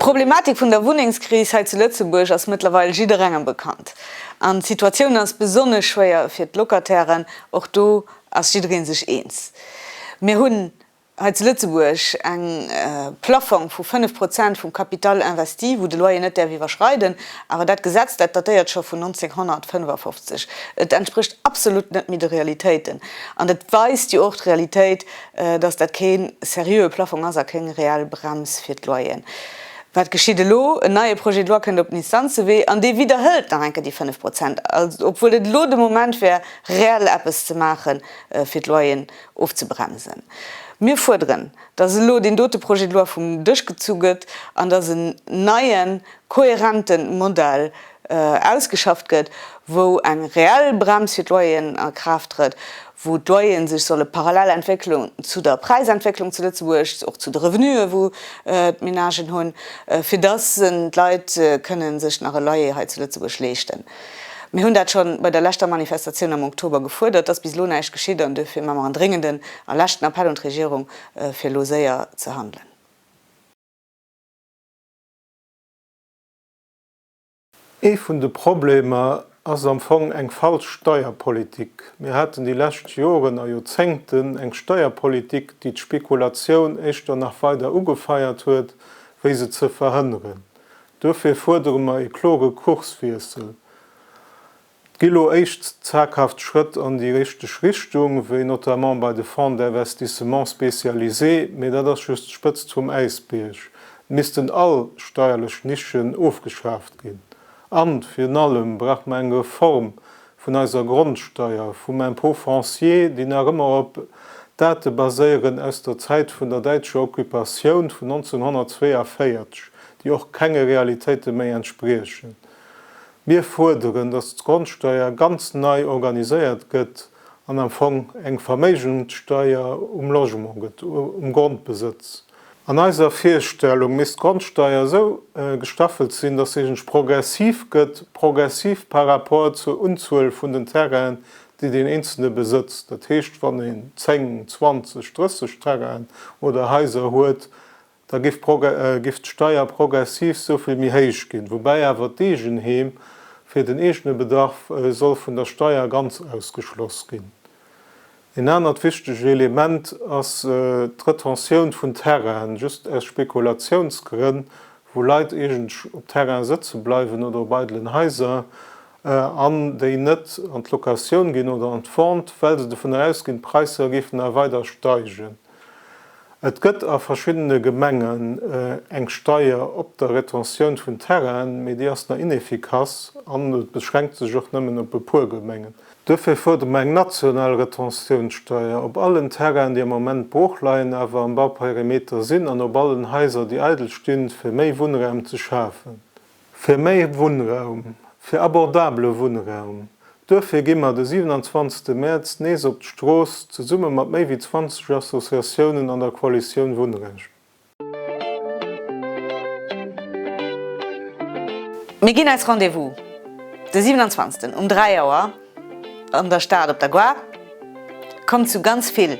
D'Problematik vun der Wunnengskris hei zu Lëtzebuerg ass mëttlerweil jidderengem bekannt. An d'Situatioun ass besonnesch schwéier fir d'Locatairen, och do ass jidderee sech eens. Mir hunn hei zu Lëtzebuerg eng Plaffong vu 5 Prozent vum Capital investi, wou de Loyer net däerf iwwerschreiden, awer dat Gesetz, dat datéiert scho vun 1955. Et entsprécht absolut net méi de Realitéiten an et weist jo och d'Realitéit, dass dat kee seriöe Plaffong ass a kéng reell Brems fir d'Loyeren. Wat geschitt elo? En neie Projet de loi kënnt op den Instanzewee an dee widderhëlt nach eng Kéier déi 5 Prozent, obwuel et elo de Moment wär, reell eppes ze maache fir d'Loyeren Ofzebremsen. Mir fuerderen, dass elo deen dote Projet de loi vum Dësch gezu gëtt an dass en neien, kohärente Modell ausgeschafft gëtt, wou eng reell Brems fir d'Loyeren a Kraaft trëtt, wou d'Loyere sech solle parallel entwéckelen zu der Präisentwécklung zu Lëtzebuerg, och zu de Revenue wou d'Menagen hunn, fir dass d'Leit kënnen sech nach e Loyer hei zu Lëtzebuerg leeschten. Mir hunn dat scho bei der leschter Manifestatioun am Oktober gefuerdert, dass bis elo näischt geschitt an duerfir maache mer en dréngenden a leschten Appell un d'Regierung, fir elo séier ze handelen. Ee vun de Problemer ass am Fong eng falsch Steierpolitik. Mir haten déi lescht Joren a Joerzéngten eng Steierpolitik, déi d'Spekulatioun éischter nach weider ugefeiert huet, wéi se ze verhënneren. Duerfir fuerdere mer ee klore Kurswiessel. Et gi lo éischt zaghaft Schrëtt an déi richteg Richtung, wéi notamment bei de Fonds d'investissement spécialisés, mee dat ass just d'Spëtzt vum Äisbierg. Et missten all steierlech Nischen ofgeschaaft ginn an, virun allem, brauche mer eng Reform vun eiser Grondsteier, vum Impôt foncier, déi nach ëmmer op Date baséieren aus der Zäit vun der däitscher Occupatioun vun 1942, déi och kenge Realitéite méi entspriechen. Mir fuerderen, dass d'Grondsteier ganz nei organiséiert gëtt an am Fong eng Verméigenssteier um Logement gëtt, um Grondbesëtz. An eiser Virstellung misst d'Grondsteier esou gestaffelt sinn, dass se progressiv gëtt, progressiv par rapport zur Unzuel vun den Terrainen, déi deen Eenzelne besëtzt. Dat heescht, wann een 10, 20, 30 Terrainen oder Haiser huet, da giff d'Steier progressiv esou vill méi héich ginn, woubäi awer d'Eegenheem fir den eegene Bedarf soll vun der Steier ganz ausgeschloss ginn. Een anert wichteg Element ass d'Retention vun Terrainen, just aus Spekulatiounsgrënn, wou Leit iergendsch op Terrainen sëtze bleiwen oder op eidelen Haiser an déi net an d'Locatioun ginn oder an d'Vente, well se dovun ausginn, d'Präisser géifen nach weider steigen. Et gëtt a verschiddene Gemengen eng Steier op der Retentioun vun Terrainen, mee déi ass nach ineffikass an et beschränkt sech och nëmmen op e puer Gemengen. Duerfir fuerdere mer eng national Retentiounssteier op allen Terrainen, déi am Moment brooch leien, awer am Bauperimeter sinn, an op allen Haiser, déi eidel stinn, fir méi Wunnraum ze schafen. Fir méi Wunnraum, fir abordabele Wunnraum, duerfir gi mer de 27 Mäerz nees op d'Strooss, zesumme mat méi wéi 20 Associatiounen an der Koalitioun Wunnrecht. Mir ginn eis Rendez-vous de 27 um 3 Auer an der Stad op der Gare. Kommt zu ganz vill!